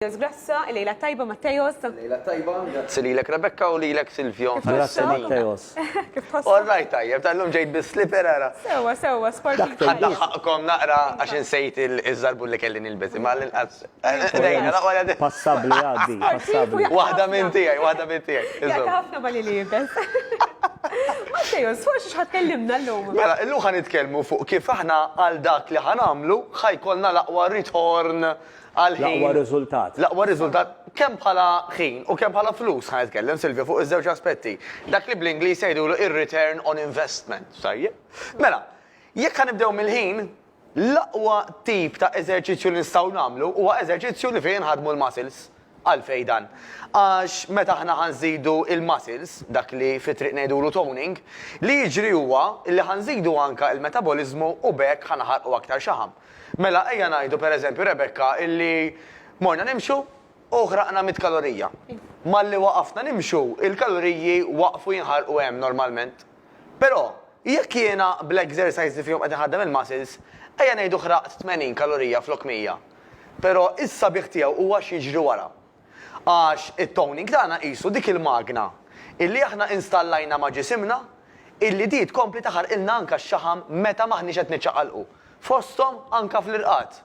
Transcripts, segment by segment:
Matteos Grasso, il-lejla t-tajba Matteos. Il-lejla t-tajba, grazzi lilek Rebecca u lilek Silvio. Grazzi Matteos. Kif tħossok? All right tajjeb, tal-lum ġejt bis-slipper ara. Sewwa, sewwa, sportiv tajjeb. Ħadd laħħaqkom naqra għax insejt il-żarbun li kelli nilbes, imma għall-inqas. Passabbli għaddi, passabbli. Waħda minn tiegħi, waħda minn tiegħi. Jaqta' ħafna ma' li liebes. Matteos, fuq xi ħadd kellimna llum? Mela, illum ħa nitkellmu fuq kif aħna għal dak li ħa nagħmlu ħa jkollna l-aqwa ritorn L-aqwa riżultat. L-aqwa riżultat kemm bħala ħin u kemm bħala flus. Ħa nitkellem, Silvio, fuq iż-żewġ aspetti. Dak li bl-Ingliż jgħidulu ir-return on investment. Tajjeb. Mela, jekk ħa nibdew mill-ħin, l-aqwa tip ta' eżerċizzju li nistgħu nagħmlu huwa eżerċizzju li fih inħaddmu l-muscles. Għalfejn dan? Għax meta aħna ħa nżidu l-muscles, dak li fit-triq ngħidulu toning, li jiġri huwa li ħa nżidu anke l-metaboliżmu u b'hekk ħa naħarqu aktar xaħam. Mela, ejja ngħidu, per eżempju, Rebecca, illi morna nimxu u ħraqna mitt kalorija. Malli waqafna nimxu, il-kaloriji waqfu jinħarqu hemm normalment. Però, jekk jiena bl-exercise li fihom qed inħaddem il-muscles, ejja ngħidu ħraqt 80 kalorija flok 100. Però is-sabiħ tiegħu huwa x'jiġri wara. Għax it-toning tagħna qisu dik il-magna illi aħna installajna ma' ġisimna illi di tkompli taħarqilna anka x-xaħam meta m'aħniex qed niċċaqalqu, fosthom anka fl-irqad.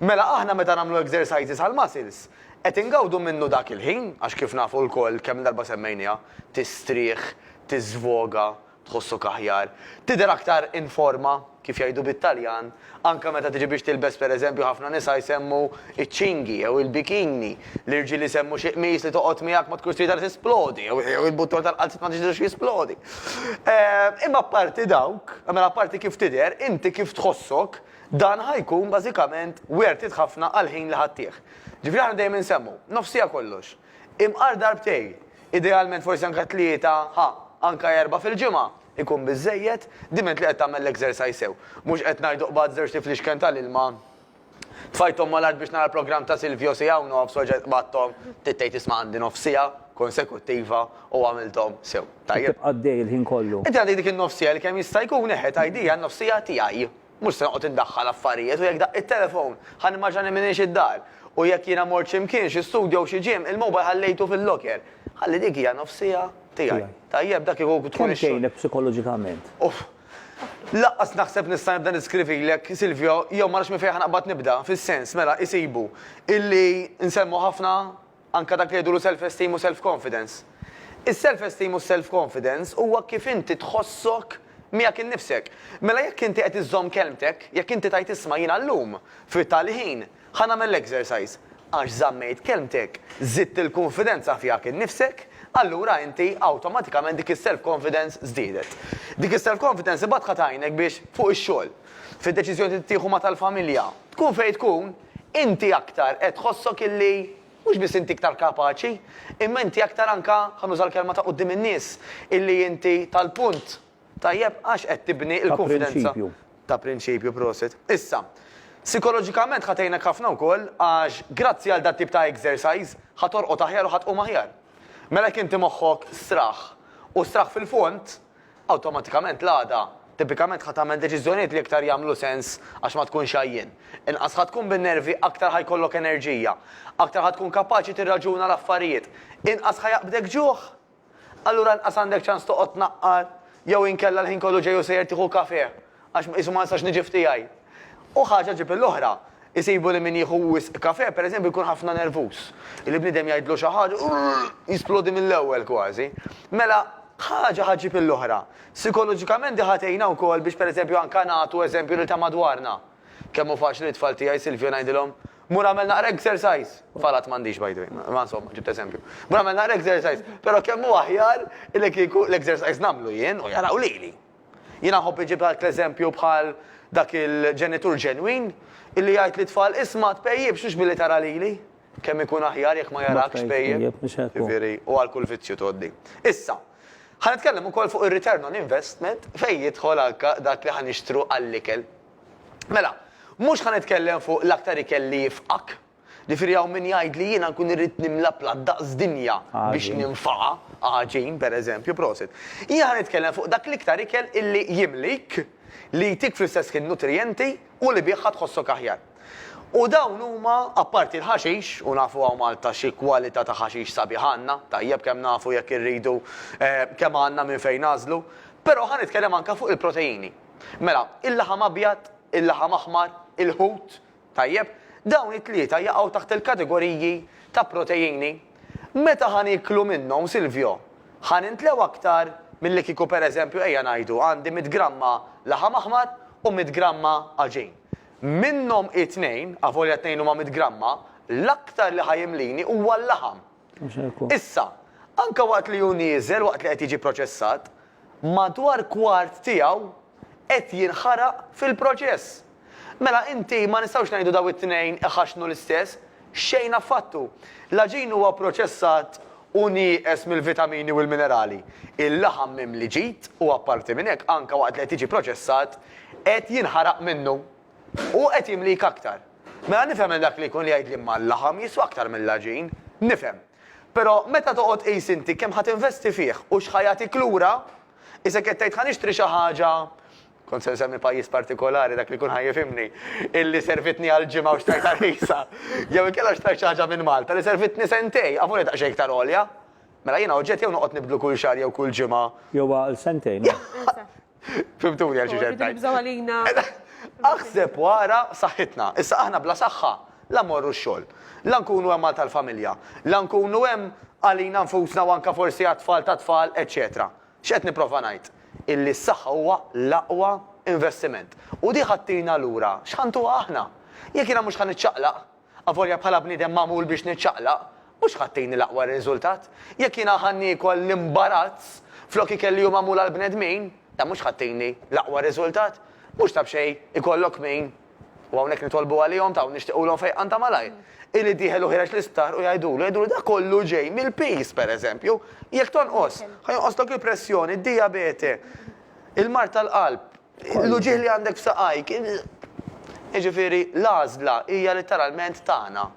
Mela aħna meta nagħmlu exercises għall-muscles qed ingawdu minnu dak il-ħin għax kif nafu lkoll kemm-il darba semmejniha, tistrieħ, tiżvoga, Tħossok aħjar. Tidher aktar in forma, kif jgħidu bit-Taljan, anke meta tiġi biex tilbes pereżempju ħafna nisa jsemmu ċ-ċingi jew il-bikini, l-irġiel isemmu xi qmis li toqgħod miegħek ma tkunx tridha li tisplodi jew il-button tal-qalziet ma tridux jisplodi. Imma apparti dawk, mela apparti kif tidher, inti kif tħossok, dan ħa jkun bażikament wertit ħafna għall-ħin li ħa ttih. Ġifieri aħna dejjem insemmu, nofsija kollox. Imqar darbtej, idealment forsi anka tlieta, ha, anka erbgħa fil-ġimgħa, ikun biżżejjed, diment li qed tagħmel l-exercise sew. Mhux qed ngħidu qbad żewġt iflixken tal-ilma, tfajthom mal-art biex nara l-programm ta' Silvio siegħa u nofs u reġgħet qbadthom, bdiet tgħid isma' għandi nofs siegħa konsekuttiva u għamilthom sew. Tajjeb. Tibqa' għaddej il-ħin kollu. Inti għandek dik in-nofs siegħa li kemm jista' jkun, eħe, tgħidhiha n-nofs siegħa tiegħi. Mhux se noqgħod indaħħal affarijiet u jekk daqqiet telefown, ħa nimmaġina li m'iniex id-dar. U jekk jiena mort xi mkien, xi studju jew xi gym, il-mobile ħallejtu fil-locker. Ħalli dik hija nofs siegħa tiegħi. Tajjeb, dak kieku tkun Kemm tgħinek psikoloġikament? Uff. Lanqas naħseb nista' nibda niskrivilek, Silvio, jew ma nafx minn fejn ħa naqbad nibda, fis-sens, mela, isibu, illi nsemmu ħafna Anke dak li jgħidulu self-esteem u self-confidence. Is-self-esteem u s-self-confidence huwa kif inti tħossok miegħek innifsek. Mela jekk inti qed iżżomm kelmtek, jekk inti tgħid isma' jiena llum, fit-tali ħin, ħa nagħmel l-exercise, għax żammejt kelmtek, żidt il-kunfidenza fihak innifsek, allura inti awtomatikament dik is-self-confidence żdiedet. Dik is-self-confidence imbagħad ħa tgħinek biex fuq ix-xogħol, fid-deċiżjonijiet li tittieħu ma' tal-familja, tkun fejn tkun, Inti aktar qed tħossok illi mhux biss inti iktar kapaċi, imma inti aktar anke, ħa nuża l-kelma ta' quddiem in-nies, illi inti tal-punt, tajjeb, għax qed tibni l-kunfidenza. Ta' prinċipju, prosit. Issa, sikoloġikament ħa tgħinek ħafna wkoll għax grazzi għal dat-tip ta' exercise ħa torqod aħjar u ħa tqum aħjar. Mela jekk inti moħħok straħ u straħ fil-fond, Awtomatikament l-għada, tipikament ħa tagħmel deċiżjonijiet li iktar jagħmlu sens għax ma tkunx għajjien. Inqas ħa tkun bin-nervi, aktar ħa jkollok enerġija. Aktar ħa tkun kapaċi tirraġuna l-affarijiet. Inqas ħa jaqbdek ġuħ. Allura inqas għandek ċans toqgħod tnaqqar jew inkella l-ħin kollu ġej u sejjer tieħu kafè. Għax qisu ma nistax niġi f'tiegħi. U ħaġa ġġib l-oħra. Isibu li min jieħu wisq kafè, per eżempju, jkun ħafna nervuż. Li bniedem jgħidlu xi ħaġa, jisplodi mill-ewwel kważi. Mela, ħaġa ħa ġġib l-oħra. Sikoloġikament di ħa tgħinna wkoll biex per eżempju anke nagħtu eżempju lil ta' madwarna. Kemm hu faċli lit-tfal tiegħi, Silvio, ngħidilhom, Mur agħmel naqra exercise! Tfal għad m'għandix by the way, imma insomma, ġibt eżempju. Mur agħmel naqra exercise! Però kemm hu aħjar li kieku l-exercise nagħmlu jien u jaraw lili. Jiena nħobb iġib l-art l-eżempju bħal dak il-ġenitur ġenwin illi jgħid lit-tfal isma' tpejjipx mhux billi tara lili. Kemm ikun aħjar jekk ma jarakx tpejjep. Jiġifieri u għal kull vizzju tgħoddi. Issa, ħa nitkellem ukoll fuq ir-return on investment fejn jidħol anke dak li ħa nixtru għall-ikel. Mela, mhux ħa nitkellem fuq l-aktar ikel li jifqak, Ġifieri hawn min jgħid li jiena nkun irrid nimla platt daqs dinja biex ninfaqa, għaġin, per eżempju, prosit. Jien ħa nitkellem fuq dak l-iktar ikel illi jimlik, li jtik fl-istess ħin nutrijenti u li bih ħa tħossok aħjar. U dawn huma, apparti l-ħaxix, u nafu hawn Malta xi kwalità ta' ħaxix sabiħ għandna, tajjeb kemm nafu jekk irridu kemm għandna minn fejn nagħżlu, però ħa nitkellem anke fuq il-proteini. Mela, il-laħam abjad, il-laħam aħmar, il-ħut, Tajjeb, dawn it-tlieta jaqgħu taħt il-kategoriji ta' proteini. Meta ħa nieklu minnhom, Silvio? Ħa nintlew aktar milli kieku pereżempju ejja ngħidu għandi mitt gramma laħam aħmar u mitt gramma għaġin. Minnhom it-tnejn, avolja t-tnejn huma mitt gramma, l-aktar li ħa jimlini huwa l-laħam. Issa, anke waqt li hu nieżel waqt li qed jiġi proċessat, madwar kwart tiegħu qed jinħaraq fil-proċess. Mela inti, ma nistgħux ngħidu dawn it-tnejn iħaxxnu l-istess? Xejn affattu. L-għaġin huwa proċessat u nieqes mill-vitamini u l-minerali. Il-laħam mimli ġid u apparti minn hekk anke waqt li qed jiġi proċessat qed jinħaraq minnu u qed jimlik aktar. Mela nifhem li dak li jkun jgħid li ma l-laħam jiswa aktar mill-għaġin. Nifhem. Però meta toqgħod tqis inti kemm ħa tinvesti fih u x'ħa jagħtik lura, isek qed tgħid ħa nixtri xi ħaġa, kont se nsemmi pajjiż partikolari, dak li jkun ħa jifhimni, illi servitni għal ġimgħa u xtrajtha rħisa. Jew inkella xtrajt xi ħaġa minn Malta li servitni sentejn, avuni daqsxejn iktar għolja. Mela jiena oġġett jew noqgħod nibdlu kull xahar jew kull ġimgħa. Jew għal sentejn. Fimtuni għal xi ġentaj. Nibżaw għalina. Aħseb wara saħħitna. Issa aħna bla saħħa la mmorru x-xogħol, la nkunu hemm għal tal-familja, la nkunu hemm għalina nfusna u anke forsi għat-tfal tat-tfal, eċċetera. X'qed nipprova ngħid? Illi s-saħħa huwa l-aqwa investiment. U di ħa ttina lura x'ħa ntuha aħna. Jekk jiena mhux ħa niċċaqlaq. Avolja bħala bniedem magħmul biex niċċaqlaq, mhux ħattini l-aqwa riżultat. Jekk jiena ħa niekol l-imbarazz flok ikel li hu magħmul għall-bnedmin, dan mhux ħattini l-aqwa riżultat. Mhux ta' b'xejn ikollok min, u hawnhekk nitolbu għalihom ta' u nixtiqulhom fejqan ta' malajr, illi dieħel u ħiereġ l-isptar u jgħidulu, jgħidulu dak kollu ġej mill-piż, pereżempju. Jekk tonqos, ħa jonqoslok il-pressjoni, d-dijabete, il-mard tal-qalb. L-uġigħ li għandek f'saqajk. Jiġifieri, l-għażla hija litteralment tagħna.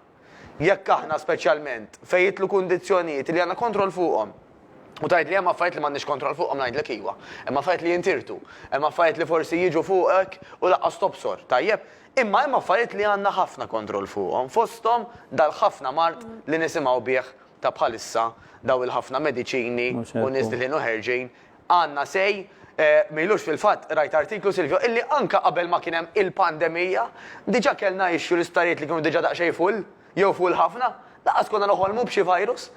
Jekk aħna, speċjalment, fejn jidħlu kundizzjonijiet li għandna kontroll fuqhom. U tgħidli hemm affarijiet li m'għandniex kontroll fuqhom ngħidlek iwa. Hemm affarijiet li jintirtu. Hemm affarijiet li forsi jiġu fuqek u lanqas tobsor. Tajjeb? Imma hemm affarijiet li għandna ħafna kontroll fuqhom, fosthom dal-ħafna mard li nisimgħu bih ta' bħalissa, dawn il-ħafna mediċini u nies dieħlin u ħerġin. Anna Sej, Ma ilux fil-fatt qrajt artiklu, Silvio, illi anke qabel ma kien hemm il-pandemija, diġà kellna issue l-isptarijiet li kienu diġà daqsxejn full, jew full ħafna, lanqas konna noħolmu b'xi virus.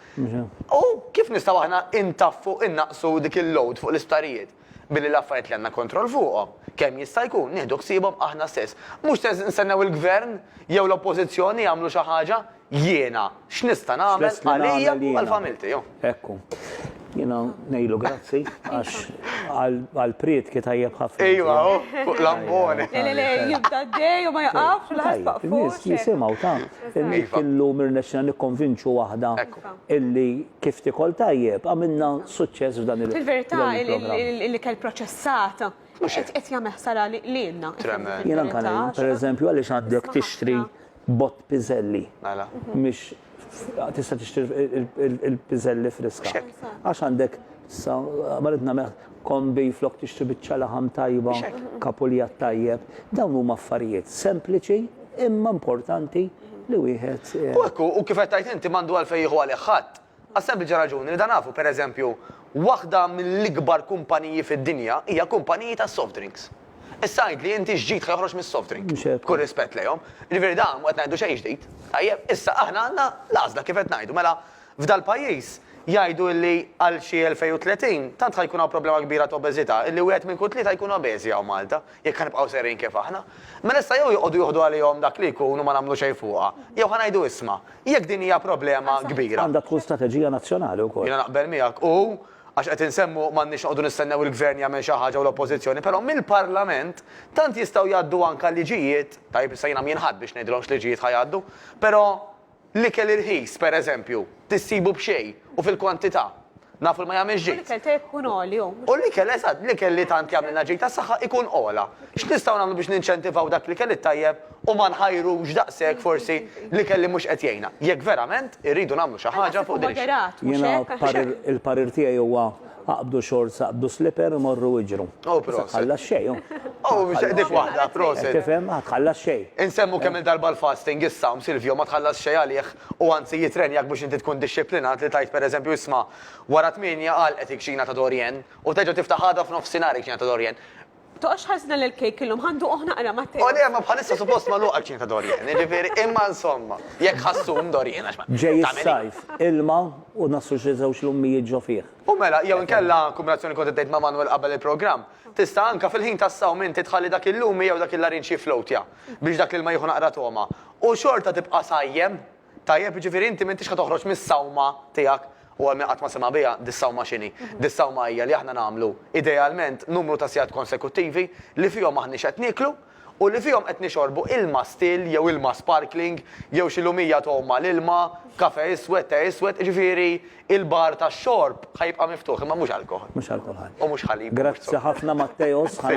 U kif nistgħu aħna intaffu, innaqqsu dik il-load fuq l-isptarijiet? Billi l-affarijiet li għandna kontroll fuqhom, kemm jista' jkun, nieħdu ħsiebhom aħna stess. Mhux se nistennew il-Gvern jew l-Oppożizzjoni jagħmlu xi ħaġa, Jiena, x'nista' nagħmel għalija u għal familti. Ekku. Jiena ngħidlu grazzi għax għal prietki tajjeb ħafna. Ejwa, fuq l-ambone. Le, le, le, jibda d-dej u ma jaqafx l-ħarfa fuq. Nis jisimgħu ta' illu mirnexxina nikkonvinċu waħda illi kif tikol tajjeb għamilna suċċess f'dan il-. Fil-verità l-ikel proċessat qed jagħmel ħsara lilna. Jiena anke ngħid, pereżempju għaliex għaddek tixtri Bott piżelli. Mela. Mhix tista' tixtri il-piżelli friska. Xek. Għax għandek sa ma rid nagħmel kombi flok tixtri biċċa laħam tajba, Xek. kapulja tajjeb. Dawn huma affarijiet sempliċi imma importanti li wieħed. U hekk hu, u kif qed tgħid inti m'għandu għalfejn jieħu għalih ħadd. Għas-sempliċi raġuni li dan nafu, per eżempju, waħda mill-ikbar kumpaniji fid-dinja hija kumpaniji tas-soft drinks. Issa għidli inti x'ġid ħa joħroġ mis-soft drink? B'kull rispett lejhom. Jiġifieri dan mhu qed ngħidu xejn ġdid. Tajjeb, issa aħna għandna l-għażla kif qed ngħidu. Mela, f'dal-pajjiż jgħidu illi għal xi 2030 tant ħa jkun hawn problema kbira ta' obeżità illi wieħed minn kull tlieta jkun obeżi hawn Malta. Jekk ħa nibqgħu sejrin kif aħna, mela issa jew joqogħdu jieħdu għalihom dak li jkun u ma nagħmlu xejn fuqha, jew ħa ngħidu isma', jekk din hija problema kbira. Għandha tkun strateġija nazzjonali wkoll. Jiena naqbel miegħek u, għax qed insemmu, m'għandniex noqogħdu nistennew il-Gvern jagħmel xi ħaġa u l-Oppożizzjoni, però mill-Parlament tant jistgħu jgħaddu anke liġijiet, tajjeb issa jiena m'jien ħadd biex ngħidilhom x'liġijiet ħa jgħaddu, però, L-ikel irħis, per eżempju, tissibu b'xejn u fil-kwantità. Nafu li ma jagħmilx ġid. U l-ikel tajjeb ikun għoli u mhux. U l-ikel, eżatt, l-ikel li tant jagħmlilna ġid għas-saħħa ikun ogħla. X'nistgħu nagħmlu biex ninċentivaw dak l-ikel it-tajjeb u ma nħajrux daqshekk forsi l-ikel li mhux qed jgħinna? Jekk verament irridu nagħmlu xi ħaġa fuq din ix-. Jiena il-parir tiegħi huwa Aqbdu xorts, aqbdu slipper u morru iġru. Oh proset. Ma tħallas xejn, oh. Oh biex eqdik waħda, proset. Tifhem, ma tħallas xejn. Insemmu kemm-il darba l-fasting, is-sawm, Silvio, ma tħallas xejn għalih u anzi jitrenjak biex inti tkun dixxiplinat li tgħid pereżempju isma' wara tmienja għalqet il-kċina ta' Dorienne u terġa' tiftaħ għada f'nofsinhar il-kċina ta' Dorienne. Toqgħodx tħassna lil Kejk illum, ħa nduquh naqra, Matteo. O le, ma bħalissa suppost magħluqa l-kċina ta' Dorian, jiġifieri, imma insomma, jekk ħassun Dorian għax ma. Ġej is-sajf, ilma u naslu xi żewġ lummijiet ġo fih. U mela, jew inkella, kombinazzjoni li kont iddejt ma' Manwel qabel il-programm, tista' anke fil-ħin tas-sawm inti tħalli dak il-lumi jew dak il-larinġ jifflowtja biex dak l-ilma jieħu naqra togħma u xorta tibqa' sajjem. Tajjeb, jiġifieri inti m'intix ħa toħroġ mis-sawma tiegħek, u għal min qatt ma sema' biha, dis-sawma x'inhi? Dis-sawma hija li aħna nagħmlu, idealment, numru ta' sigħat konsekuttivi li fihom m'aħniex qed nieklu u li fihom qed nixorbu ilma still jew ilma sparkling jew xi lumija togħum mal-ilma, kafè iswed, tè iswed, jiġifieri l-bar tax-xorb ħa jibqa' miftuħ, imma mhux alkoħol. Mhux alkoħol. U mhux ħalib. Grazzi ħafna Matteos.